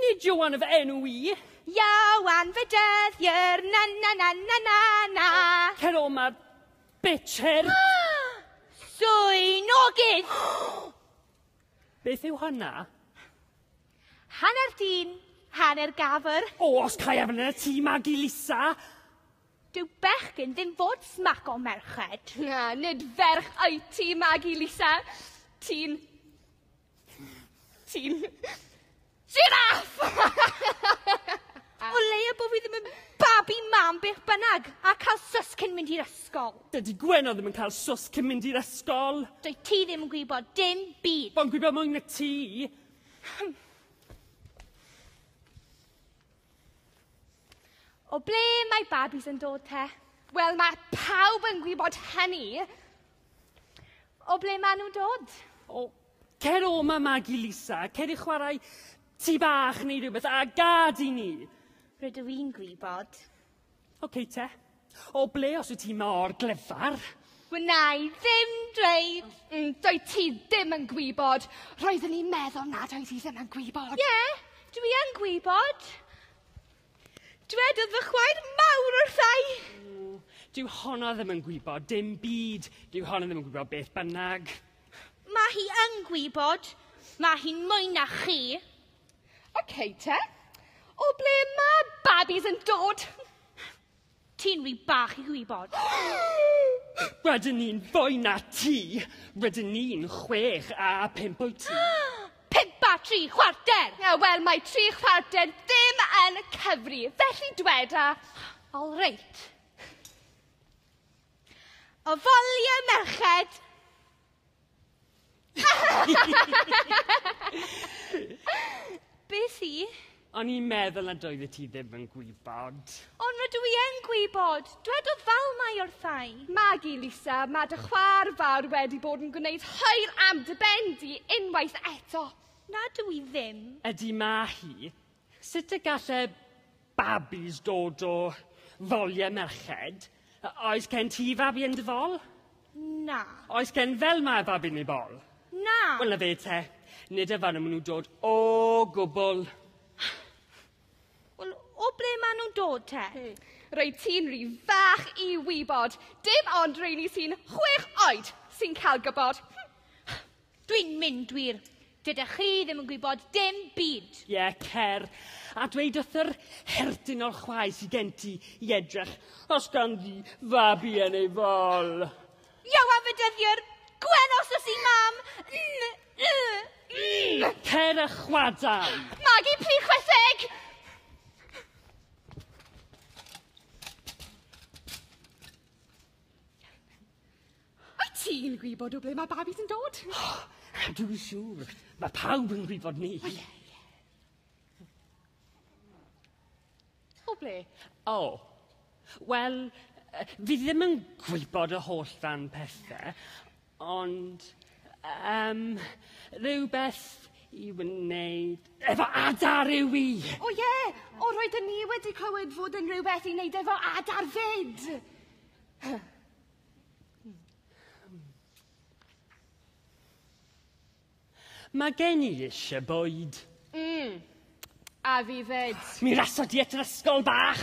Nid Ioan fy enw i. Ioan fy dyddier, na na na na na na. Cer o ma, bitch her. Llwynogydd! Beth yw hynna? Hanner dyn, hanner gafr. O, os cae efn yn y tŷ, Magi Lisa! Dyw bechgyn ddim fod smac o merched. Na, nid ferch wyt ti, Magi Lisa. Ti'n Ti'n... Jiráff! O leia bod fi ddim yn babi mam beth bynnag, a cael sws cyn mynd i'r ysgol. Dydy Gwenno ddim yn cael sws cyn mynd i'r ysgol. Dwy ti ddim yn gwybod dim byd. Fo'n gwybod mwy na ti. O ble mae babis yn dod te? Wel, mae pawb yn gwybod hynny. O ble maen nhw'n dod? O, cer o ma Magi Lisa, cer i chwarae tu bach neu rhywbeth, a gad i ni. Rydw i'n gwybod. Oce okay, te. O ble os wyt ti mor glyfar? Wna i ddim dweud. Mm, doi ti ddim yn gwybod. Roeddwn i'n meddwl nad oedd hi ddim yn gwybod. Ie, yeah, dwi yn gwybod. Dwedodd fy chwaer mawr wrtha i. Dyw honno ddim yn gwybod dim byd. Dyw honno ddim yn gwybod beth bynnag. Mae hi yn gwybod. Mae hi'n mwy na chi. OK te. O ble mae babis yn dod? Ti'n ry bach i gwybod. Rydyn ni'n fwy na ti! Rydyn ni'n chwech a pump wyt ti. Pump a tri chwarter! Ie, wel, mae tri chwarter ddim yn cyfri, felly dweda. All reit. Ofalia merched! Beth i? O'n i'n meddwl nad oeddet ti ddim yn gwybod. Ond rydw i yn gwybod! Dwedodd Falmai wrthai. Magu, Lisa, mae dy chwaer fawr wedi bod yn gwneud hwyr am dy ben di unwaith eto. Nad dw i ddim. Ydy mae hi. Sut y gall e Babis dod o ddoliau merched. Oes gen ti fabi yn dy fol? Na. Oes gen fel mae babi yn ei bol? Na. Wel na fe te. Nid y fan nhw nhw'n dod o gwbl. Wel, o ble maen nhw'n dod te? Hmm. Roedd ti'n rhy fach i wybod. Dim ond rheini sy'n chwech oed sy'n cael gwybod. Dwi'n mynd wir. Dydych chi ddim yn gwybod dim byd. Ie, cer, a dweud wrth yr herdyn o'r chwae sy gen ti i edrych os ganddi fabi yn ei fol. Yow a fedyddiwr! Gwen os oes i mam! N, y, n! Cer a chwadam! Magi, pli chwetheg! Wyt ti'n gwybod o ble mae babis yn dod? Dwi'n siŵr. Mae pawb yn gwybod ni. O, ie, ie. O ble? O. Wel, fi ddim yn gwybod y holl dan pethau, ond um, rhywbeth i wneud efo adar yw i. O ie, o roedden ni wedi clywed fod yn rhywbeth i wneud efo adar fyd. Mae gen i eisiau bwyd. Mm. A fi fed. Mi raso di at yr ysgol bach!